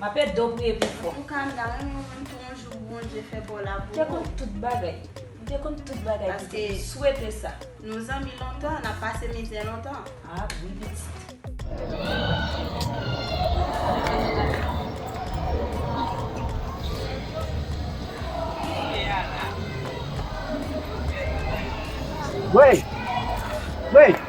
Map ede w priye pi fò. Antouka m ta renmen wè pou yon jou Bondye fè bò la pou ou. M te konn tout bagay. M te konn tout bagay piti. M swete sa. Nou zanmi lontan, nap pase mizè lontan. Ah oui pitit. Wey! Wey!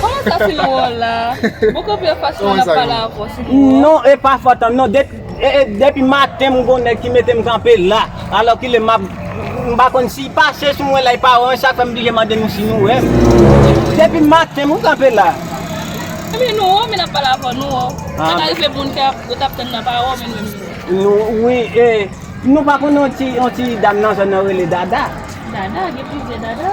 Koman sa se yon wòl la? Mwen kanpe anfas ou an ap pale avè w se yon wòl? Non e pa fòt an non depi maten m gon nèg ki mete m kanpe la alòkile m ap m pa konn si pase sou mwen la e pa wè mwen sa fè m blije mande nou si nou wè m depi maten m kanpe la. Ebyen nou wè w men n ap pale avè w nou wè w sa ka rive moun ki ap yo t ap tann nan pa wè w men nou menm nou wè w. Wi e nou pa konn yon ti dam nan zòn nan rele Dada? Dada gen plizyè Dada.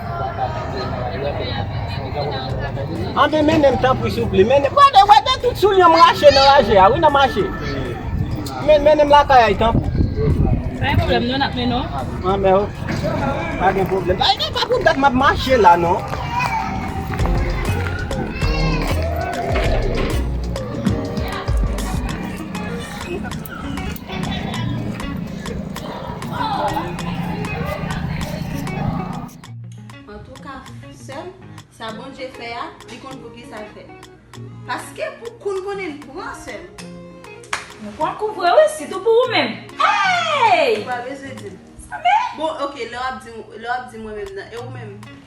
Anben mennenm tanpri souple mennenm gade wè de tout soulye m rache nan raje a wi nan mache men mennenm lakay ay tanpri Pa gen pwoblèm non nap mennenw Anben ok pa gen pwoblèm pa gen pa pou dat map mache la non Antouka sèm sa Bondye fè a li konn poukisa l fèt paske pou koun konnen l pran sèm Nou pran kou vre wi sitou pou ou menm eeyy Ou pa bezwen di m sa men bon ok lè wap di m lè wap di mwen menm nan e ou menm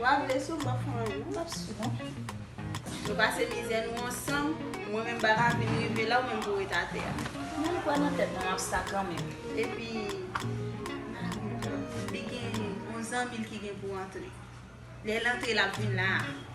Wa vle sou m pa fon an non. M pap sou non. Nou pase mizè nou ansanm, mwen menm ba lavi m rive la ou menm pou ret atè a. Mwen kwè nan tèt mwen map sa kanmenm. Epi li gen yon zanmi l ki gen pou antre. Lè l antre lap vin la a.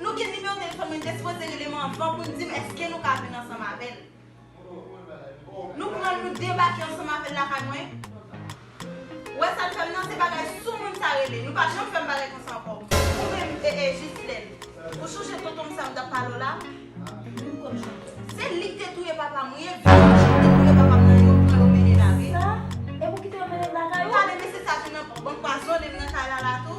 Nou gen nimewo telefòn mwen te sipoze relem anvan poun dim eske nou ka vin ansanm avèl nou pranl nou debake ansanm avèl lakay mwen ou wè sal fèm nan se bagay soumoun sa rele nou pa janm fèm bagay konsa ankò ou menm ee jislèn ou sonje tontonm sa mtap pale w la se lik te touye papam wi epi se li ki te touye papam nan yo pran yo mennen lage sa e pou kite yo mennen lakay ou tande mesye sa vin nan bank pwazone m nan kay lala tou.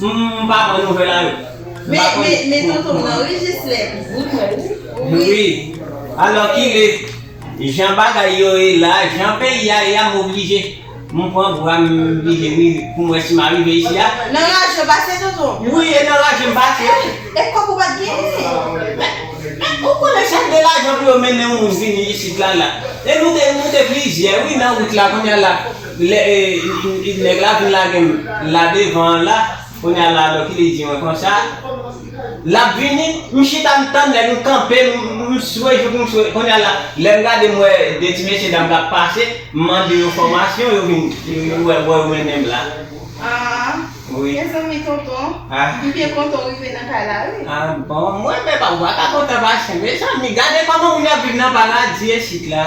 M pa pran nouvel a yo. M pa konn. Men men tontonm nan wi Gislèn. Wi mwen wi. Wi. Alò kile Jan bagay yo ye la Jan peyi a ye a m oblije m pran bwa m vide wi pou m wè si m arive isi a. Nan raje w pase tontonm? Wi e nan raje m pase wi. E kòb ou pat genyen? Men ou konnen sa k de lajan pou yo mennen yon moun vini isit la la. E nou te nou te plizyè wi nan wout la kounya la. Lè nèg la vin lage m la devan an la, kounye a la Lucky li di mwen konsa, L ap vini? M chita m tann nèg, m kanpe, m swe jouk m swe. Kounye a la, lè m gade m wè 2 ti mesye dam k ap pase, m mande yo fòmasyon, yo vin, yo wè bò yo mennen m la. Aah, mezanmi tonton, m byen kontan w rive nan kay la wi. Ah bon, mwen menm pa m pa ka kontan pase, mezanmi gade kòman moun ap viv nan paradi esit la.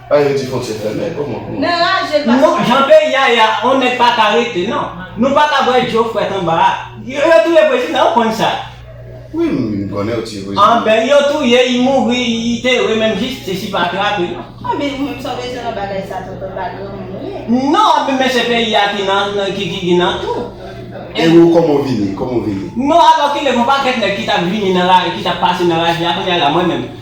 An yo di fontyè fèmen koman pou nou. Nou jan peyi a ye a on nèg pa ka rete nan nou pa ka bwè djo frèt anba a yo touye prezidan ou konn sa. Wi m konnen yo tiye prezidan. An ben yo touye li mouri li tere menm jistis li pa trape non. An ben ou menm sa w bezwen nan bagay sa tonton pa granmoun ou ye. Non an ben se peyi a ki nan ki ki nan tou. E ou koman w vini koman w vini. Non alòkile gon pakèt nèg ki tap vini nan la ki tap pase nan raj la kounya la mwen menm.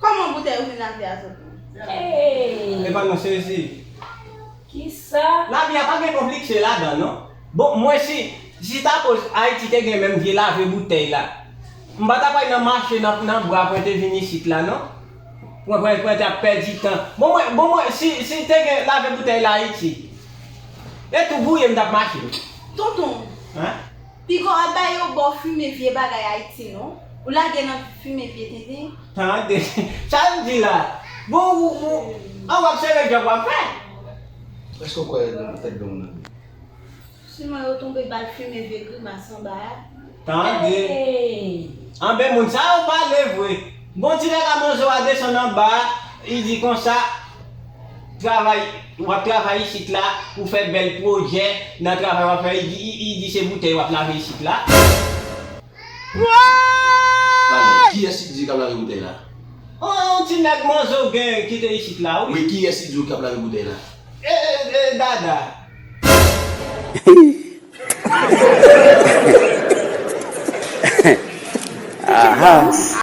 Koman boutèy ruminante a soti? Hey! Epa non sezi. Kisa? Lavi a pa gen konplikse ladan non. Bon mwen si si ta koz Ayiti te gen menm vye lave boutèy la. M pa ta pral nan mache nan nan bra pwente vin isit la non. Pwen pwen pwente ap pèdi tan. Bon mwen bon mwen si si te gen lave boutèy la Ayiti. E tou gouye m tap mache. Tonton. Hein? Piga w ap bay yo ba w fimen vye bagay Haiti non. Ou lage nan fimen vye tenten. Tande sal di la bon ou an wap sere job wap fè. Eske w kwè nan tèt don nan vre. Siman yo tonbe bal fimen vye grimas anba a. Tande anben moun sa yo pale vre. Bon ti nèg a manzo a desann anba a li di konsa travay. Wap travay isit la pou fè bèl projè nan travay wap fè i di se boutèy wap lave isit la. Pale, kiyès li di kap lave boutèy la? An yon ti nèg manzo gen ki te isit la wi. Wi kiyès li di kap lave boutèy la? E dada. Hee. Ahh.